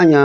an y'a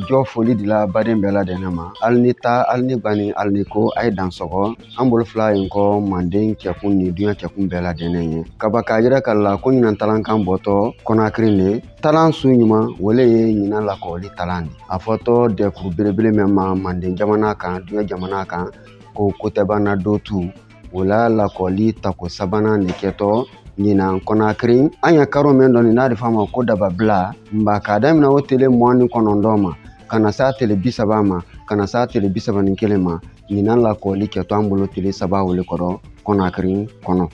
jɔ foli dila baden bɛɛ ladɛnɛn ma hali ni ta hali ni bani hali ni ko a ye dan sɔgɔ an bolo fila y'an kɔ manden cɛkun ni duɲa cɛkun bɛɛ ladɛnɛn yɛ ka ban k'a yiraka alu la ko ɲinan talan kan bɔtɔ kɔnakiri le talan su ɲuman o le ye ɲinan lakɔli talan di a fɔtɔ dɛkuru belebele mɛn ma manden jamana kan duɲa jamana kan ko kotɛbana dotu O la lakɔli tako sabanan de kɛtɔ ɲinan kɔnakiri an ye karo min dɔ nin a di f'a ma ko dababila nba k'a daminɛ o tele mugan ni kɔnɔntɔn ma ka na s'a tele bi saba ma ka na s'a tele bi saba ni kelen ma ɲinan lakɔli kɛtɔ an bolo tele saba o le kɔrɔ kɔnakiri kɔnɔ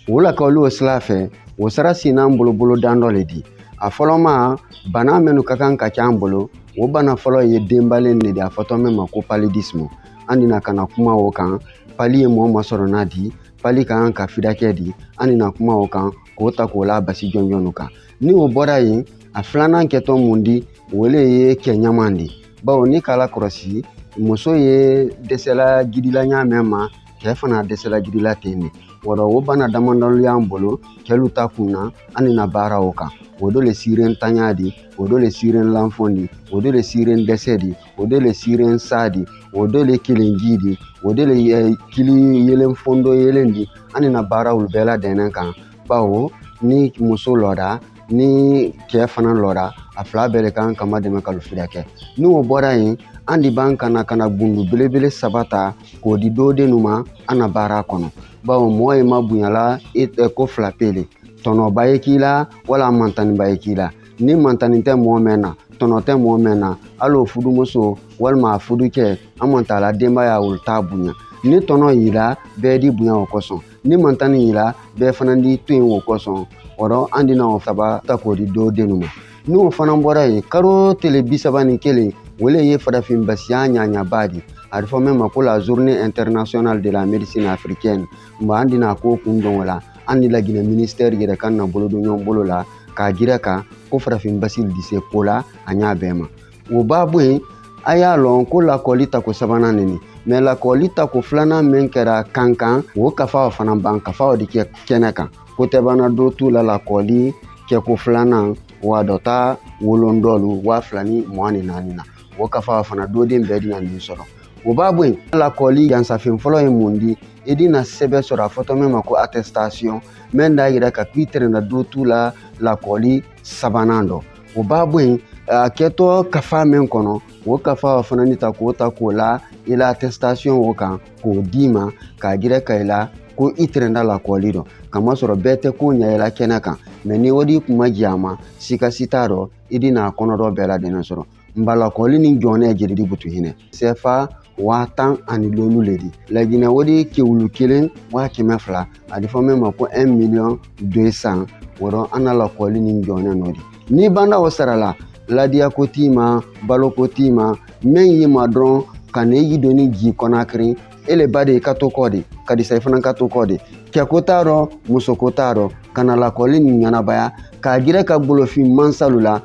o lakɔli o sira fɛ o sira sinn'an bolo bolodan dɔ le di a fɔlɔma bana minnu ka kan ka ca an bolo o bana fɔlɔ ye denbalen de di a fɔtɔ min ma ko paludisme an dina ka na kuma o kan pali ye mɔgɔ masɔrɔnna di pali ka kan ka fidakɛ di an dina kuma o kan k'o ta k'o la basi jɔnjɔn kan ni o bɔra yen a filanan kɛtɔ mun di o le ye kɛ ɲaman di bawo n'i k'a lakɔlɔsi muso ye dɛsɛla jidila ɲa mɛn ma kɛ fana dɛsɛla jidila ten de o rɔ o bana damadɔ lu y'an bolo kɛlu ta kun na an dina baara o kan o do le siren tanya di o do le siren lanfɔn di o do le siren dɛsɛ di o do le siren sa di o do le kelenji di o do le eh, kili yelen fondo yelen di an dina baara olu bɛɛ ladɛnɛn kan bawo ni muso lɔda ni cɛɛ fana lɔda a fila bɛɛ le kan ka madɛmɛ k'alu fidakɛ ni o bɔra yen an di ban ka na ka na gundu belebele saba ta k'o di doden nu ma an na baara kɔnɔ bawo mɔɔ ye mabonyala e, e ko fila pe le tɔnɔba ye k'i la wala mantaniba ye k'i la ni mantani tɛ mɔgɔ mɛn na tɔnɔ tɛ mɔgɔ mɛn na hali o fudumuso walima a fudukɛ hamant'a la denbaya olu t'a bonya ni tɔnɔ y'i la bɛɛ d'i bonya o kosɔn ni mantani y'i la bɛɛ fana d'i to yen o kosɔn o rɔ an dina o saba ta k'o di doden ma n'o fana bɔra yen karo tele bi saba ni kelen o le ye farafin basiya ɲaɲaba di a di fɔ min ma ko la journée internationale de la médecine africaine Nba an dina ko kundon o la an ni laginɛ minisitɛri yɛrɛ ka na bolo don ɲɔgɔn bolo la k'a yiraka ko farafin basi di se ko la a ɲa bɛɛ ma o ba bɔ yen a y'a lɔn ko lakɔli tako sabanan ne nin mais lakɔli tako filanan min kɛra kankan o kafa o fana ban kafa o di kɛ kɛnɛ kan kotɛbana dotu la lakɔli kɛko filanan wa dɔ ta wolon dɔlu waa fila ni mugan ni naani na o kafa o fana doden bɛɛ dina nin sɔrɔ o ba bɔ yen lakɔli jansafen fɔlɔ ye mun di i di na sɛbɛn sɔrɔ a fɔtɔ min ma ko attestation min d'a yiraka k'i tɛrɛna do t'u la lakɔli sabanan dɔ o b'a bɔ yen a kɛtɔ kafa min kɔnɔ o kafa o fana ni ta k'o la i la attestation o kan k'o d'i ma k'a jiraka i la ko i tɛrɛnda lakɔli dɔ kamasɔrɔ bɛɛ tɛ ko ɲayela kɛnɛ kan mais ni o di kun ma jɛ a ma sika si t'a dɔ i di n'a kɔnɔdɔ bɛɛ ladɛnnɛ sɔrɔ nba lakɔli ni jɔnɛ jeli di butu hinɛ sɛfa waa tan ani lolu le di laginɛ o di kɛ wulu kelen waa kɛmɛ fila a di fɔ min ma ko 1 miliyɔn 200 o rɔ an na lakɔli ni jɔnɛ nɔ di n'i banda o sara la ladiyako t'i ma baloko t'i ma min y'i ma dɔrɔn ka na i doni ji kɔnakiri e le ba de i ka to kɔ de ka disa i fana ka to kɔ de cɛko t'a rɔ musoko t'a rɔ ka na lakɔli nin ɲɛnabaya k'a jiraka golofin mansalu la